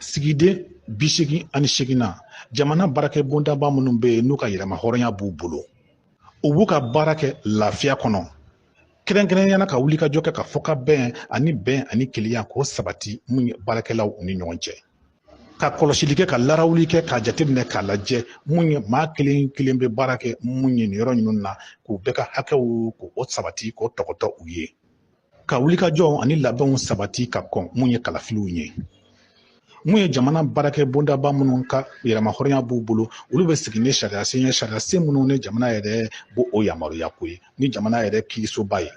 sigiden bi seegin ani seeginnan jamana baarakɛ bondaba minnu bɛ yen n'u ka yɛrɛmahɔrɔnya b'u bolo u b'u ka baara kɛ lafiya kɔnɔ kɛrɛnkɛrɛnnenya la ka wulikajɔ kɛ ka fɔkabɛn ani bɛn ani kelenya k'o sabati mun ye baarakɛlaw ni ɲɔgɔn cɛ ka kɔlɔsili kɛ ka larawuli kɛ k'a jateminɛ k'a lajɛ mun ye maa kelen kelen bɛ baara kɛ mun ye nin yɔrɔ ninnu na k'u bɛɛ ka hakɛw k'o sabati k'o tɔgɔtɔ u ye ka wulikajɔw ani labɛnw sabati ka kɔn mun ye kalafiliw ye mun ye jamana baarakɛ bondaba minnu ka yɛrɛmahɔrɔnya b'u bolo olu bɛ sigi ni sariya sen ye sariya sen minnu ni jamana yɛrɛ b'o yamaruya ko ye ni jamana yɛrɛ kiirisoba ye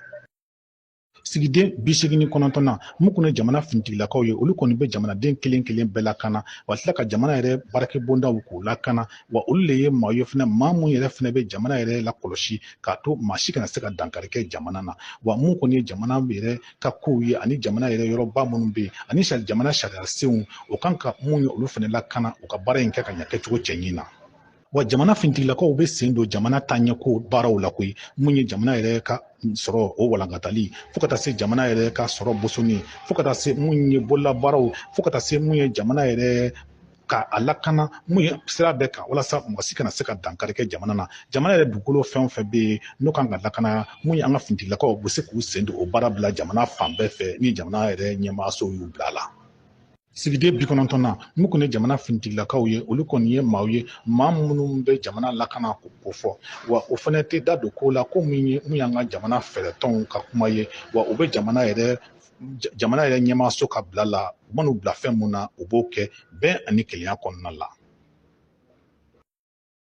sigiden bi seegin ni kɔnɔntɔnnan mun kɔni ye jamana finitigilakaw ye olu kɔni bɛ jamanaden kelen kelen bɛɛ lakana wa tila ka jamana yɛrɛ baarakɛ bondaw k'u lakana wa olu le ye maa ye fana maa mun yɛrɛ fana bɛ jamana yɛrɛ lakɔlɔsi k'a to maa si kana se ka dankari kɛ jamana na wa mun kɔni ye jamana yɛrɛ ka kow ye ani jamana yɛrɛ yɔrɔba minnu bɛ yen ani jamana sariya senw o kan ka mun ye olu fana lakana u ka baara in kɛ ka ɲɛ kɛcogo cɛɲi na wa jamana fintigilakaw bɛ sen don jamana taaɲɛko baaraw la koyi mun ye jamana yɛrɛ ka sɔrɔ o walankatali fo ka taa se jamana yɛrɛ ka sɔrɔ bosonni fo ka taa se mun ye bololabaaraw fo ka taa se mun ye jamana yɛrɛ ka a lakana mun ye sira bɛɛ kan walasa mɔgɔ si kana se ka dankari kɛ jamana na jamana yɛrɛ dugukolo fɛn o fɛn bɛ yen n'o kan ka lakana mun ye an ka finitigilakaw bɛ se k'u sen don o baara bɛɛ la jamana fan bɛɛ fɛ ni jamana yɛrɛ ɲɛmaaso y'u bila a la sigiden bi kɔnɔntɔnnan mun kɔni ye jamana finitigilakaw ye olu kɔni ye maaw ye maa minnu bɛ jamana lakana ko ko fɔ wa o fana tɛ da don ko la ko min ye mun y'an ka jamana fɛɛrɛtɔnw ka kuma ye wa u bɛ jamana yɛrɛ jamana yɛrɛ ɲɛmaaso ka bila la u man'u bila fɛn mun na u b'o kɛ bɛn ani kelenya kɔnɔna la